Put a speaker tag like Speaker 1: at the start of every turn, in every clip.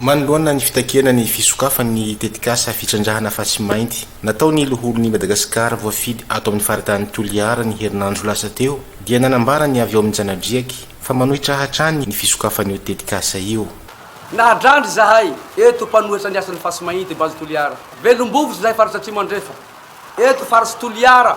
Speaker 1: Manoloana ny fitakiana ny fisokafan'ny tetikasa fitrandrahana fasy mainty nataon'ny Loholon'i Madagasikara voafidy ato amin'ny faritanin'i Toliara ny herinandro lasa teo dia nanambara ny avy ao amin'ny Janadriaky fa manohitra hatrany ny fisokafan'io tetikasa io. Nahadrandry
Speaker 2: izahay eto mpanohitra ny asan'ny fasy mainty Base Toliara, Velom-bovitra izahay faritra Atsimo Andrefa, eto Faritsy Toliara.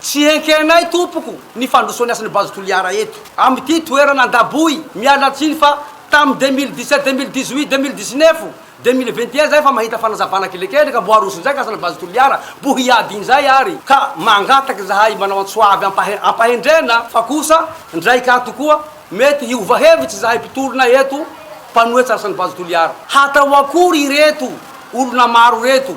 Speaker 2: Tsy enkenay tompoko ny fandrosoan'ny asan'i Base Toliara eto amin'ity toerana Andaboy, miala tsiny fa tamin'ny deux mille dix sept, deux mille dix huit, deux mille dix neuf, deux mille vingt et un izay fa mahita fanazavana kelikely ka mbo aroso injay ny asan'i Base Toliara, mbo hiady injay ary ka mangataka izahay manao antso avy ampahendrena fa kosa ndray ka tokoa mety hiova hevitra izahay mpitolona eto mpanohitra ny asan'i Base Toliara. Hatao akory ireto olona maro ireto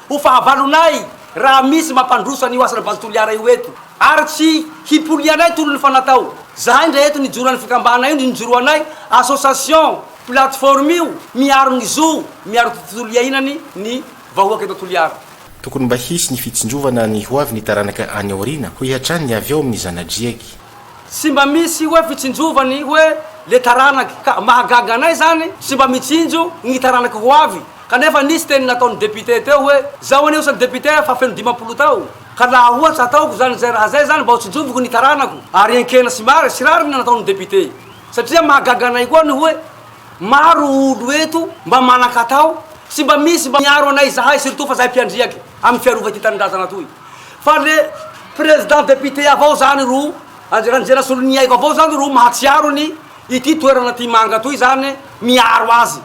Speaker 2: Ho fahavalonay raha misy mampandroso an'io asana Base Toliara io eto ary tsy hipolianay tolony fa natao zahay ndray eto nijoran'ny fikambana io nijoroanay association plateforme io miaro ny zo miaro tontolo iainany ny vahoaka eto Toliara. Tokony mba hisy
Speaker 1: ny fitsinjovana ny ho avy ny taranaka any aoriana hoy hatrany ny avy ao amin'ny zanadriaky. Tsy mba
Speaker 2: misy hoe fitsinjovany hoe le taranaka ka mahagaga anay zany tsy mba mitsinjo ny taranaka ho avy Kanefa nisy teny nataon'ny député teo hoe, zaho anie osa député fa feno dimampolo taona, ka laha ohatra ataoko izany izay raha izay izany mba ho tsinjoviko ny taranako, ary enkena sy mary sy rariny nataon'ny député. Satria mahagaga anay koa ny hoe, maro olo eto mba manan-katao sy mba misy mba miaro anay izahay surtout fa izahay mpiandriaky amin'ny fiarova ity tanindrazana toy. Fa le président député avao izany ro, Andry Rasoloniaiko avao izany ro mahatsiaro ny ity toerana ity manga toy izany miaro azy.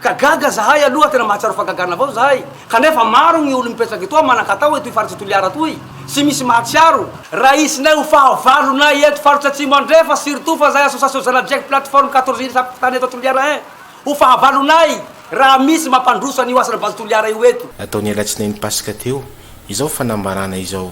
Speaker 2: Ka gaga zahay aloha, tena mahatsiaro fagagana avao zahay, kanefa maro gny olo mipetraky etoa manan-katao etoy faritry Toliara toy, tsy misy mahatsiaro, raha hisinay ho fahavalonay eto faritry atsimo andrefa, surtout fa zahay association Zanadriaky plateforme quatorze ily samy mpitana eto Toliara hein, ho fahavalonay raha misy mampandroso an'io asana base
Speaker 1: Toliara
Speaker 2: io
Speaker 1: eto.
Speaker 2: Nataony
Speaker 1: alatsinainy paska
Speaker 2: teo izao fanambarana izao.